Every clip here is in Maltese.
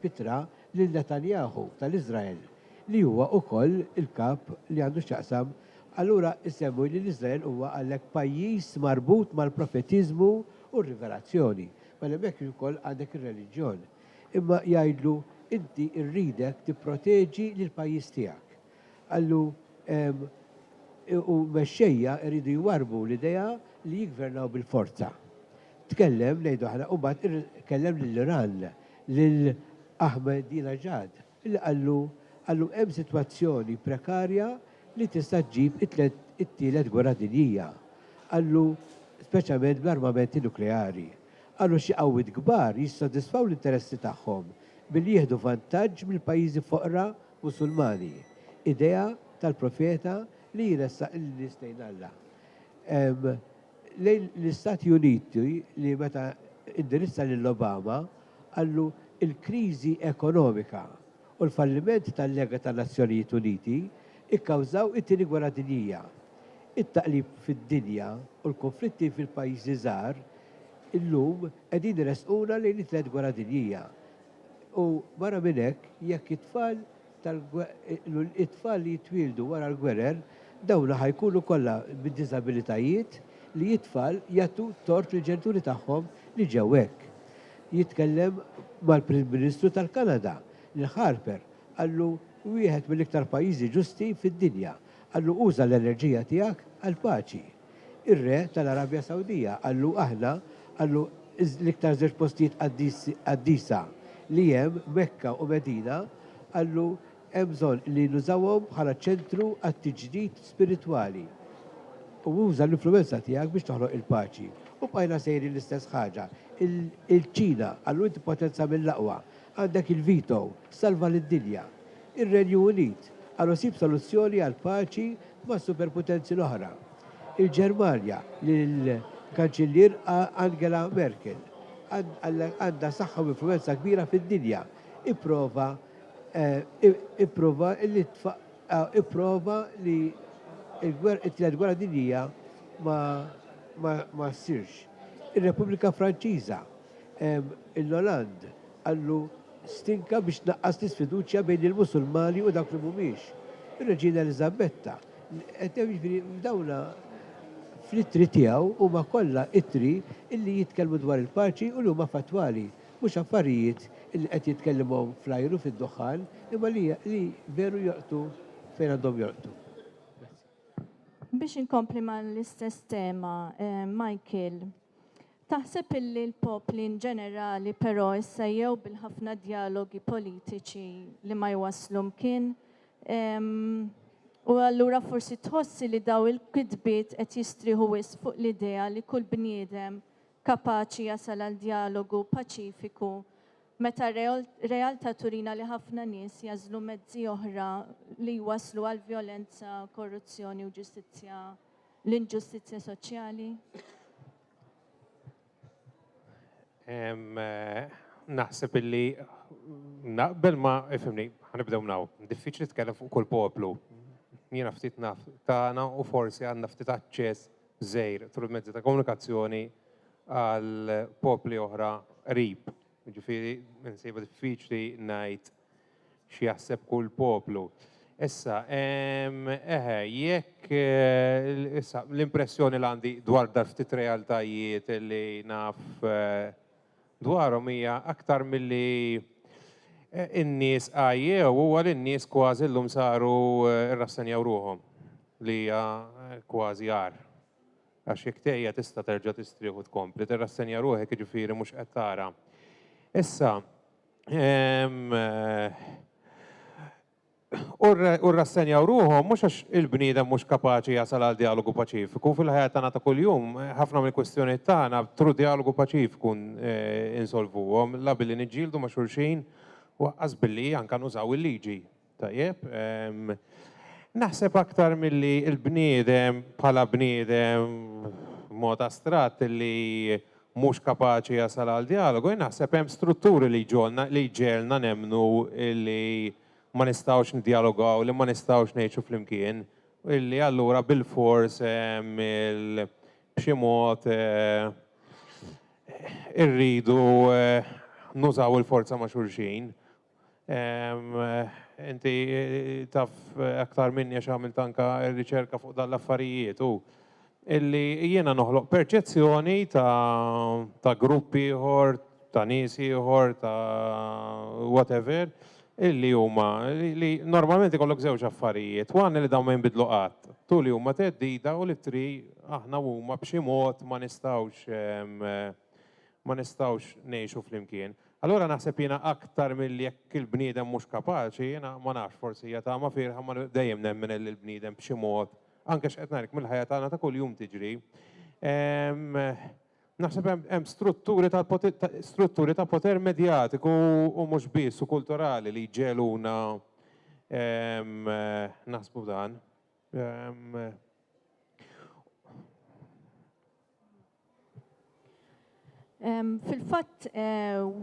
b'ittra lil Netanyahu tal-Iżrael, li huwa wkoll il-kap li għandu x'jaqsam, allura isemmu li l-Iżrael huwa għalhekk pajjiż marbut mal-profetiżmu u r-rivelazzjoni. Mela hemmhekk ukoll għandek ir-reliġjon. Imma jgħidlu, inti rridek tipproteġi lill-pajjiż tiegħek. Qallu, Hemm u mexxejja jridu jwarrbu l-idea li jiggvernaw bil-forza. Tkellem, ngħidu aħna, u mbagħad ir kellem lill-Iran, lil Ahmadinejad, li qallu, qallu hemm sitwazzjoni prekarja li tista' ġġib it-tliet it-tielet gwerra dinjija. Qallu, speċjalment bl-armamenti nukleari. Qallu xi qawwiet kbar jissodisfaw l-interessi tagħhom billi jieħdu vantaġġ mill-pajjiżi foqra Musulmani, idea tal-profeta li jressaq lin-nies lejn Alla. Lejn l-Istati Uniti li meta indirizza lil Obama qallu l-kriżi ekonomika u l-falliment tal-Lega tan-Nazzjonijiet Uniti kkawżaw it-Tieni Gwerra Dinjija. It-taqlib fid-dinja u l-kunflitti fil-pajjiżi żgħar illum qegħdin iressquna lejn it-Tliet Gwerra Dinjija. U barra minn hekk, jekk it-tfal it-tfal li jitwieldu wara l-gwerer, dawn ħa jkunu kollha bid-diżabilitajiet li it-tfal jagħtu t-tort lill-ġenituri tagħhom li ġew hekk. Jitkellem mal-Prim Ministru tal-Kanada, lil Harper, qallu wieħed mill-iktar pajjiżi ġusti fid-dinja. Qallu, Uża l-enerġija tiegħek għall-paċi. Ir-re tal-Arabja Sawdija qallu, Aħna, qallu, l-iktar żewġ postijiet qaddisa li hemm, Mekka u Medina, qallu, hemm bżonn li nużawhom bħala ċentru għat-tiġdid spiritwali. U uża l-influwenza tiegħek biex toħloq il-paċi. U bqajna sejrin l-istess ħaġa. Il-Ċina, qallu, inti potenza mill-aqwa. Għandek il-veto. Salva lid-dinja. ir-Renju Unit għal isib soluzzjoni għall-paċi mas-superputenzi l-oħra, il-Ġermanja lill-Kanċillier Angela Merkel għandha saħħa u influwenza kbira fid-dinja, ipprova ipprova li ipprova li t-Tielet Gwerra Dinjija ma ma ma ssirx. Ir-Repubblika Franċiża, il-Hollande, Qallu, Stinka biex tnaqqas l-isfiduċja bejn il-Musulmani u dawk li mhumiex. Ir-Reġina Eliżabetta, jiġifieri dawn fl-ittri tiegħu huma kollha ittri li jitkellmu dwar il-paċi u li huma fattwali, mhux affarijiet li qed jitkellimhom fl-ajru fid-duħħan, imma li veru jolqtu fejn għandhom jolqtu. Grazzi. Biex inkompli mal-istess tema, Michael, Taħseb illi l-popli in ġenerali però issejjew bil-ħafna djalogi politiċi li ma jwasslu mkien? U allura forsi tħossi li daw il-kitbiet qed jistrieħu wisq fuq l-idea li kull bniedem kapaċi jasal għal djalogu paċifiku meta r-realtà turina li ħafna nies jagħżlu mezzi oħra li jwasslu għal vjolenza, korruzzjoni u ġustizzja l-inġustizzja soċjali? Naħseb illi naqbel ma ifimni, ħanibdew naw. Diffiċli tkellem fuq kull poplu. Jiena ftit naf tagħna u forsi għandna ftit aċċess żejr tul mezzi ta' komunikazzjoni għal popli oħra qrib. Ġifieri nsiba diffiċli ngħid x'jaħseb kull poplu. Issa, ehm, eħe, jekk eh, issa l-impressjoni li għandi dwar dar ftit realtajiet li naf eh, dwarhom hija aktar milli eh, in-nies għajjew huwa li n-nies kważi llum saru rrassenjaw ruhom li hija kważi għar. Għax jekk tejja tista' terġa' tistrieħu tkompli, tirrassenja ruħek jiġifieri mhux qed tara. Issa, u rrassenjaw ruħhom mhux għax il-bniedem mhux kapaċi jasal għal dialogu paċifiku fil-ħajja tagħna ta' kuljum ħafna mill-kwistjonijiet tagħna tru dialogu paċifiku insolvuhom la billi niġġieldu ma' xulxin u aqqas billi anke nużaw il-liġi. Tajjeb, naħseb aktar milli l-bniedem bħala bniedem b'mod astratt li mhux kapaċi jasal għal djalogu, jien naħseb hemm strutturi li jġogħolna, li jġegħelna nemmnu li ma nistgħux niddjalogaw, li ma nistgħux ngħixu flimkien, u li allura bilfors b'xi mod irridu nużaw il-forza ma' xulxin. Inti taf aktar minni għax għamilt anka riċerka fuq dan l-affarijiet u illi jiena noħloq perċezzjoni ta' grupp ieħor, ta' nies ieħor, ta' whatever, illi huma li normalment ikollok żewġ affarijiet, waħna li dawn ma jinbidlu qatt, tu li huma teddida u li tri aħna huma b'xi mod ma nistgħux ma nistgħux ngħixu flimkien. Allura naħseb jiena aktar milli jekk il-bniedem mhux kapaċi, jiena ma nafx, forsi hija tama fierħa imma dejjem nemmen li l-bniedem b'xi mod, anke x'qed ngħidlek mill-ħajja tagħna ta' kuljum tiġri, naħseb hemm strutturi ta' strutturi ta' poter medjatiku u mhux biss u kulturali li jġegħluna naħsbu dan. Fil-fatt,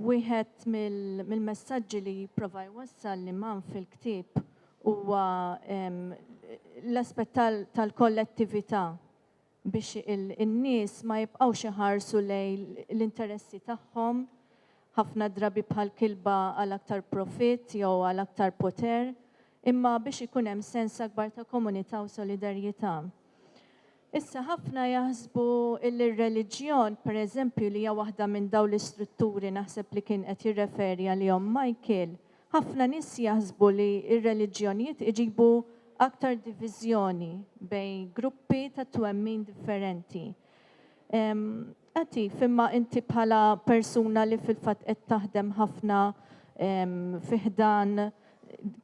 wieħed mill-messaġġi li jipprova jwassal l-Imam fil-ktieb huwa l-aspett tal-kollettività biex in-nies ma jibqgħux iħarsu lejn l-interessi tagħhom, ħafna drabi bħal kilba għal aktar profitt jew għal aktar poter, imma biex ikun hemm sens akbar ta' komunità u solidarjetà. Issa ħafna jaħsbu illi r-reliġjon, pereżempju, li hija waħda minn dawn l-istrutturi naħseb li kien qed jirreferi għalihom Michael, ħafna nies jaħsbu li r-reliġjonijiet iġibu aktar diviżjoni bejn gruppi ta' twemmin differenti. Attiv, imma inti bħala persuna li fil-fatt qed taħdem ħafna fi ħdan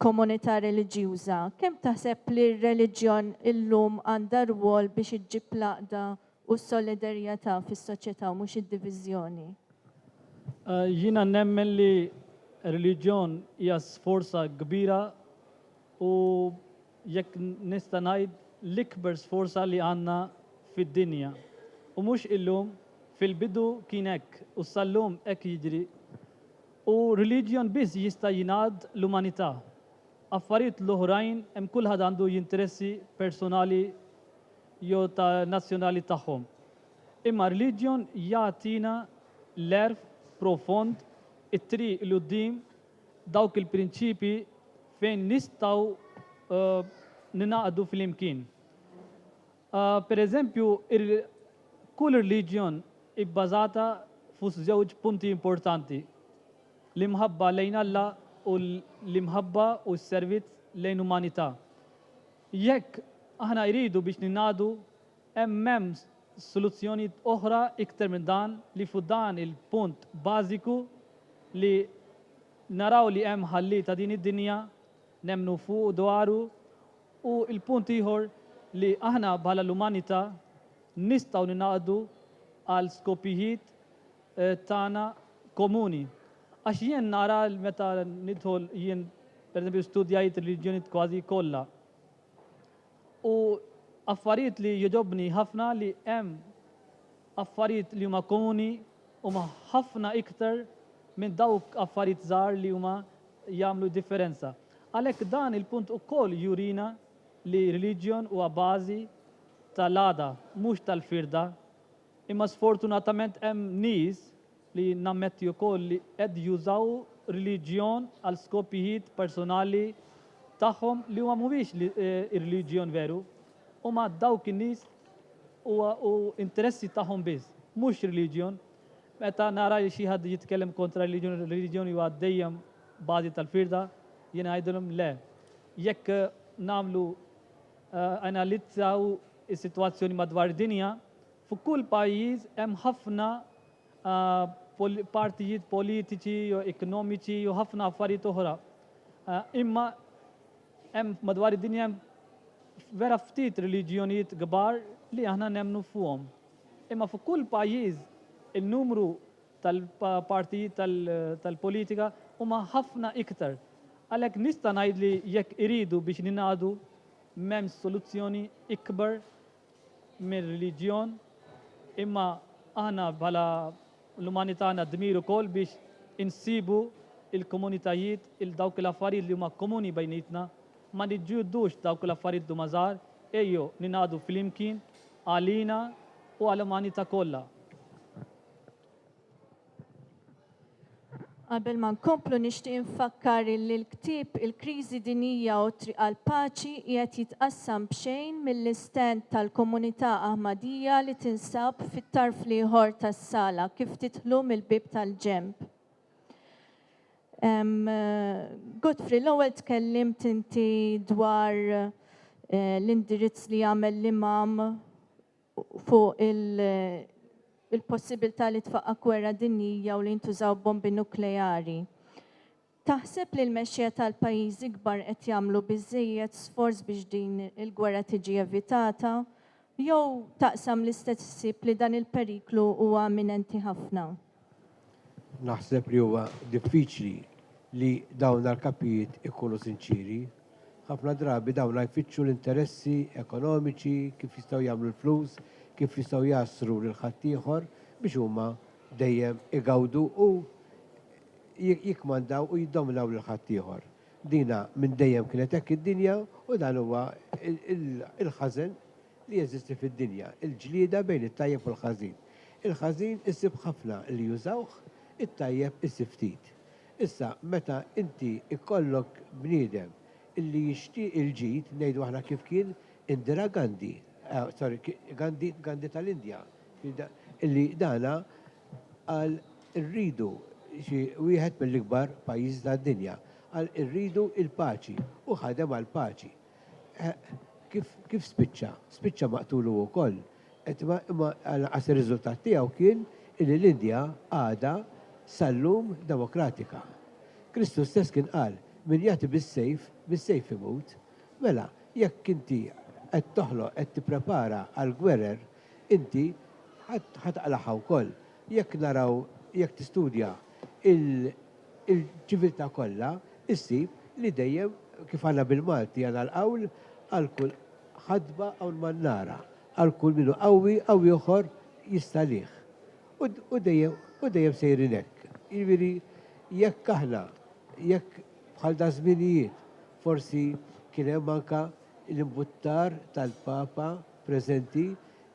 komunità reliġjuża, kemm taħseb li r-reliġjon illum għandha rwol biex iġġib l-għaqda u s-solidarjetà fis-soċjetà u mhux id-diviżjoni? Jiena nemmen li r-reliġjon hija sforza kbira u jekk nista' ngħid, l-ikber sforza li għandna fid-dinja. U mhux illum, fil-bidu kien hekk u sal-lum hekk jiġri. U religion biss jista' jingħad l-umanità. Affarijiet l-oħrajn hemm kulħadd għandu jinteressi personali jew ta' nazzjonali tagħhom. Imma religion jagħtina l-għerf profond, it-triq 'l quddiem dawk il-prinċipji fejn nistgħu ningħaqdu flimkien. Per eżempju, kull irliġjon hi bbażata fuq żewġ punti importanti, l-imħabba lejn Alla u l-imħabba u s-servizz lejn umanità. Jekk aħna jridu biex ningħaqdu Hemm hemm soluzzjonijiet oħra iktar minn dan li fuq dan il-punt bażiku li naraw li hemm Ħallieq ta' din id-dinja, nemmnu fuq u dwaru, u l-punt ieħor li aħna bħala l-umanità nistgħu ningħaqdu għal skopijiet tagħna komuni. Għax jien nara meta nidħol jien pereżempju studjajt ir-reliġjonijiet kważi kollha. U affarijiet li jogħġobni ħafna li hemm affarijiet li huma komuni huma ħafna iktar minn dawk affarijiet żgħar li huma jagħmlu differenza. Għalhekk dan il-punt ukoll jurina li religion huwa bażi tal-għada mhux tal-firda imma sfortunatament hemm nies li nammetti wkoll li qed jużaw reliġjon għal skopijiet personali tagħhom li huwa mhuwiex ir-reliġjon veru. Huma dawk in-nies huwa u interessi tagħhom biss, mhux reliġjon. Meta nara li xi ħadd jitkellem kontra r-reliġjon, ir-reliġjon huwa dejjem bażi tal-firda, jiena ngħidilhom le. Jekk nagħmlu analizzaw is-sitwazzjoni madwar id-dinja, f'kull pajjiż hemm ħafna partijiet politiċi, ekonomiċi u ħafna affarijiet oħra. Imma hemm madwar id-dinja vera ftit reliġjonijiet kbar li aħna nemnu fuqhom. Imma fuq kull pajjiż in-numru tal-partijiet tal-politika huma ħafna iktar. Għalhekk nista' ngħid li jekk iridu biex ningħadu m'hemmx soluzzjoni ikbar mir-reliġjon, imma aħna bħala l-umanità għandna d-dmir ukoll biex insibu il-komunitajiet il dawk l-affarijiet li huma komuni bejnietna, ma niġġildux dawk l-affarijiet li huma żgħar, ejjew ningħaqdu flimkien għalina u għall-umanità kollha. Qabel ma nkomplu nixtieq infakkar li l-ktieb Il-Kriżi Dinjija u t-Triq għall-Paċi qiegħed jitqassam b'xejn mill-istand tal-Komunità Aħmadija li tinsab fit-tarf l-ieħor tas-sala kif tidħlu mill-bieb tal-ġenb. Godfrey, l-ewwel tkellimt inti dwar eh, l-indirizz li jagħmel l-imam fuq il-possibilità li tfaqqa' gwerra dinjija u li jintużaw bombi nukleari. Taħseb li l-mexxejja tal-pajjiżi kbar qed jagħmlu biżżejjed sforz biex din il-gwerra tiġi evitata? Jew taqsam l-istess ħsieb li dan il-periklu huwa imminenti ħafna? Naħseb li huwa diffiċli li dawn l-kapijiet ikunu sinċieri. Ħafna drabi dawn jfittxu l-interessi ekonomiċi, kif jistgħu jagħmlu l-flus, kif jistgħu jgħassru lil ħaddieħor biex huma dejjem igawdu u jikkmandaw u jiddominaw lil ħaddieħor. Dina minn dejjem kienet hekk id-dinja u dan huwa l-ħażen li jeżisti fid-dinja, il-ġlieda bejn it-tajjeb u l-ħażin. Il-ħażin isib ħafna li jużawh, it-tajjeb isib ftit. Issa, meta inti jkollok bniedem li jixtieq il-ġid, ngħidu aħna kif kien Indira Gandhi, sorry, Gandhi, Gandhi tal-Indja, li dana qal irridu xi wieħed mill-ikbar pajjiżi tad-dinja, qal irridu l-paċi u ħadem għall-paċi. Kif kif spiċċa? Spiċċa maqtul hu wkoll. Qed imma imma lanqas ir-riżultat tiegħu kien illi l-Indja għadha sal-lum demokratika. Kristu stess kien qal, Min jagħti bis-sejf, bis-sejf imut. Mela, jekk inti qed toħloq, qed tipprepara għall-gwerer, inti ħa taqlagħha wkoll. Jekk naraw, jekk tistudja il, il-ċiviltà kollha ssib li dejjem kif għandna bil-Malti għandna l-qawl għal kull ħadba hawn man-nara, għal kull min hu qawwi qawwi oħor jistalih. U u dejjem u dejjem sejrin hekk. Jiġifieri jekk aħna jekk bħal daż-żminijiet forsi kien hemm anke l-imbuttar tal-Papa preżenti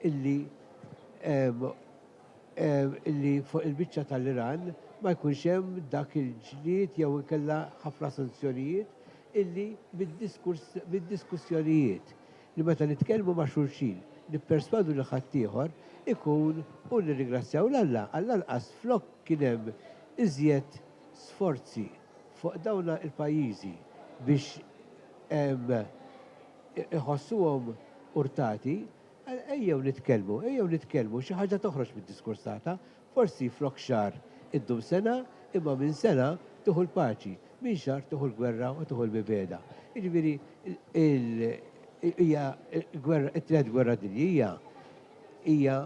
illi illi fuq il-biċċa tal-Iran ma jkunx hemm dak il-ġlied jew inkella ħafna sanzjonijiet illi mid-diskussjonijiet li meta nitkellmu ma' xulxin nipperswadu lil ħaddieħor ikun u nirringrazzjaw 'l Alla għall-anqas flok kien hemm iżjed sforzi fuq dawn il-pajjiżi biex iħossuhom urtati Ejjew nitkellmu, ejjew nitkellmu, xi ħaġa toħroġ mid-diskors tagħtha. Forsi flok xahar iddum sena, imma minn sena tieħu l-paċi, minn xahar tieħu l-gwerra u tieħu l-mibegħda. Jiġifieri hija t-Tielet Gwerra Dinjija hija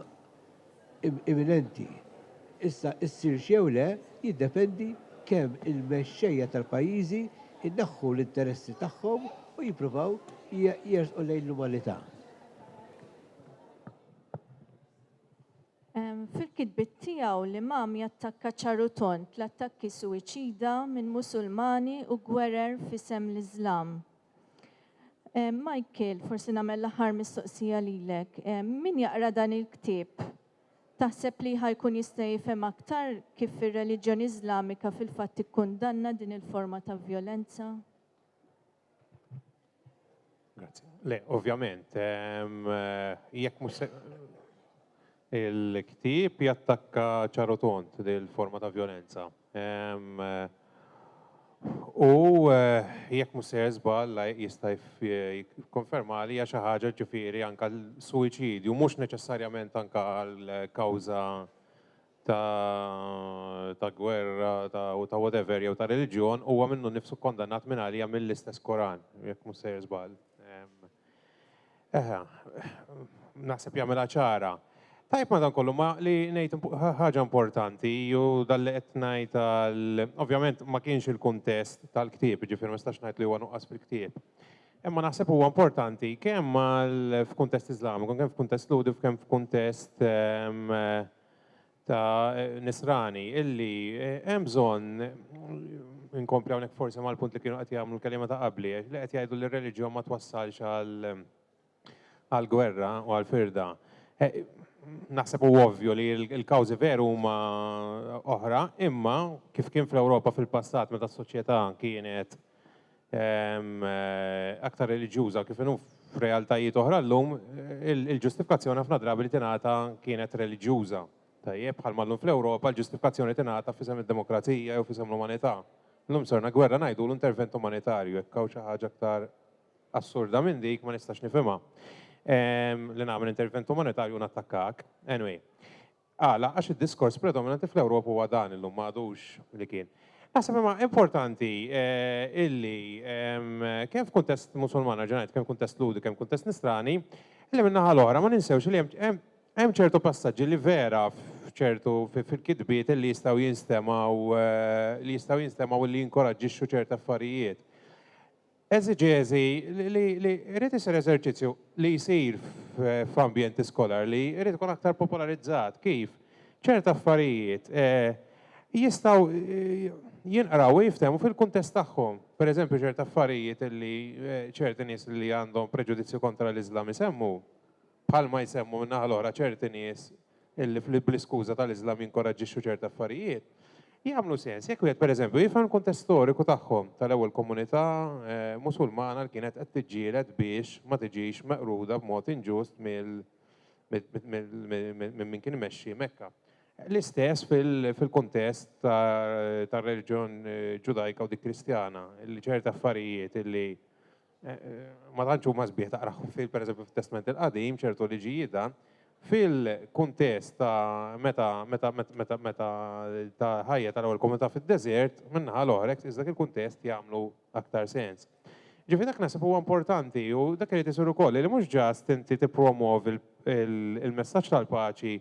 imminenti. Issa ssirx jew le jiddependi kemm il-mexxejja tal-pajjiżi jneħħu l-interessi tagħhom u jippruvaw jersqu lejn l-umanità. Fil-kitbiet tiegħu l-Imam jattakka ċar u tond l-attakki suwiċida minn Musulmani u gwerer f'isem l-Iżlam. Eh, Michael, forsi nagħmel l-aħħar mistoqsija lilek. Eh, min jaqra dan il-ktieb? Taħseb li ħajkun jista' jifhem aktar kif ir-reliġjon Iżlamika fil-fatt ikkundanna din il-forma ta' vjolenza? Grazie. Le, ovvjament, ehm, eh, jekk mhux Il-ktieb jattakka ċar u tond dil-forma ta' vjolenza. U jekk mhux sejjer żball, Lajq jista' jikkonfermali, hija xi ħaġa ġifieri anke l-suwiċidju mhux neċessarjament anke għal kawża ta' gwerra u ta' whatever jew ta' reliġjon huwa minnu nnifsu kkondannat mingħalija mill-istess Koran, jekk mhux sejjer żball. Eħe, naħseb jagħmilha ċara. Tajb madankollu ma li ngħid ħaġa importanti ju dalli qed ngħid għal ovvjament ma kienx il-kuntest tal-ktieb, ġifier ma nistax ngħid li huwa nuqqas fil-ktieb. Imma naħseb huwa importanti kemm għal f'kuntest Iżlamiku, kemm f'kuntest Ludi, kemm f'kuntest ehm, ta' nisrani illi hemm bżonn inkompli hawnhekk forsi mal-punt li kienu qed jagħmlu l-kelima ta' qabli li qed jgħidu li r-reliġjon ma twassalx għal gwerra u għal firda. Naħseb u ovvju li l-kawżi veru huma oħra, imma kif kien fl-Ewropa fil-passat meta s-soċjetà kienet aktar reliġjuża kif inhu f'realtajiet oħra llum, il-ġustifikazzjoni ħafna drabi li tingħata kienet reliġjuża. Tajjeb, bħal mallum fl-Ewropa, l-ġustifikazzjoni tingħata fisem id-demokrazija jew fisem l-umanità. Llum sorna gwerra ngħidu l-intervent umanitarju, jekk hawn xi ħaġa aktar assurda minn dik ma nistax nifhimha. Li nagħmel intervent umanitarju nattakkak. Anyway, Għala? Għax id-diskors predominanti fl-Ewropa huwa dan illum ma għadux li kien. Naħseb imma importanti eh, illi kemm f'kuntest Musulman ġenajt, kemm kuntest Ludi, kemm kuntest Nisrani, illi minnaħa l-oħra ma ninsewx li hemm ċertu passaġġi li vera f'ċertu fil-kitbiet li jistgħu jinstemaw eh, li jistgħu jinstemaw li jinkoraġġixxu ċerta affarijiet. Eżiġeżi li jrid isir eżerċizzju li jsir f'ambjent iskolar li jrid ikun aktar popolarizzat kif ċert affarijiet jistgħu jinqraw u jiftehmu fil-kuntest tagħhom. Per eżempju ċert affarijiet li ċerti nies li għandhom preġudizzju kontra l-Iżlam isemmu bħalma jsemmu min-naħa l-oħra ċerti nies illi bl-iskuża tal-Iżlam jinkoraġġixxu ċerti affarijiet, jagħmlu sens jekk wieħed pereżempju jifhem il-kuntest storiku tagħhom tal-ewwel komunità Musulmana li kienet qed tiġġieled biex ma tiġix meqruda b'mod inġust minn min kien imexxi Mekka. L-istess fil-kuntest tar-reliġjon Ġudajka u dik Kristjana, li ċerti affarijiet illi ma tantx huma sbieħ taqrahom fil pereżempju fit-Testment il-Qadim ċertu liġijiet dan fil-kuntest ta' meta meta meta meta ta' ħajja tal-ewwel komunità fid-deżert minnaħa l-oħra hekk dak il-kuntest jagħmlu aktar sens. Ġifi dak naħseb huwa importanti u dak irid isir ukoll li mhux ġast inti tippromovi il-messaġġ tal-paċi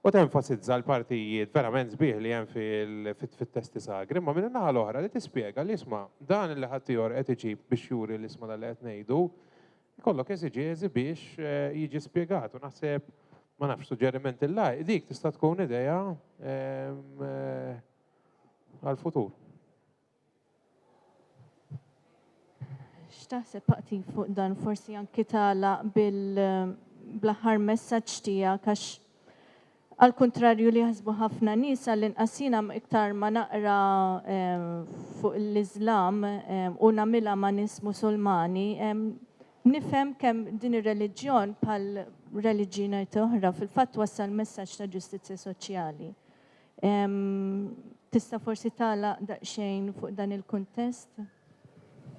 u tenfasizza l-partijiet verament sbieħ li hemm fit-testi sagri, imma minn in-naħa l-oħra li tispjega li isma' dan li ħaddieħor qed iġib biex juri li isma' dak li qed ngħidu jkollok eżiġeżi biex jiġi spjegat u naħseb ma nafx suġġeriment il lajk dik tista' tkun idea għall-futur. X'taħseb Paqti fuq dan? Forsi anki tagħlaq bil bl-aħħar messaġġ tiegħek għax għall-kuntrarju li jaħsbu ħafna nies għall-inqas jiena iktar ma naqra fuq l-Iżlam u nagħmilha ma' nies Musulmani nifhem kemm din ir-reliġjon bħal reliġjinajti oħra fil-fatt twassal messaġġ ta' ġustizzja soċjali. Tista' forsi tagħlaq daqsxejn fuq dan il-kuntest?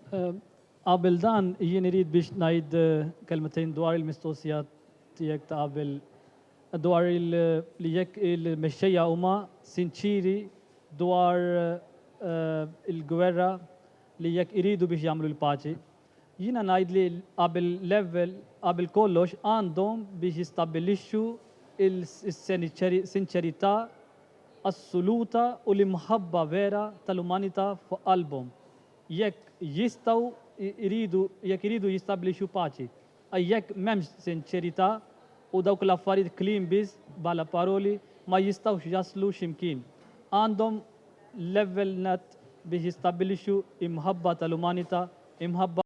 Qabel dan, jien irid biex ngħid kelmtejn dwar il-mistoqsija tiegħek ta' qabel dwar li jekk il-mexxejja huma sinċieri dwar il-gwerra li jekk iridu biex jagħmlu l-paċi. Jiena ngħid li qabel l-ewwel qabel kollox għandhom biex jistabbilixxu s-sinċerità assoluta u l-imħabba vera tal-umanità fuq qalbhom jekk jistgħu jridu jekk iridu jistabbilixxu paċi. Għax jekk m'hemmx sinċerità u dawk l-affarijiet kliem biss bħala paroli ma jistgħux jaslu x'imkien. Għandhom level nett biex jistabbilixxu imħabba tal-umanità, imħabba.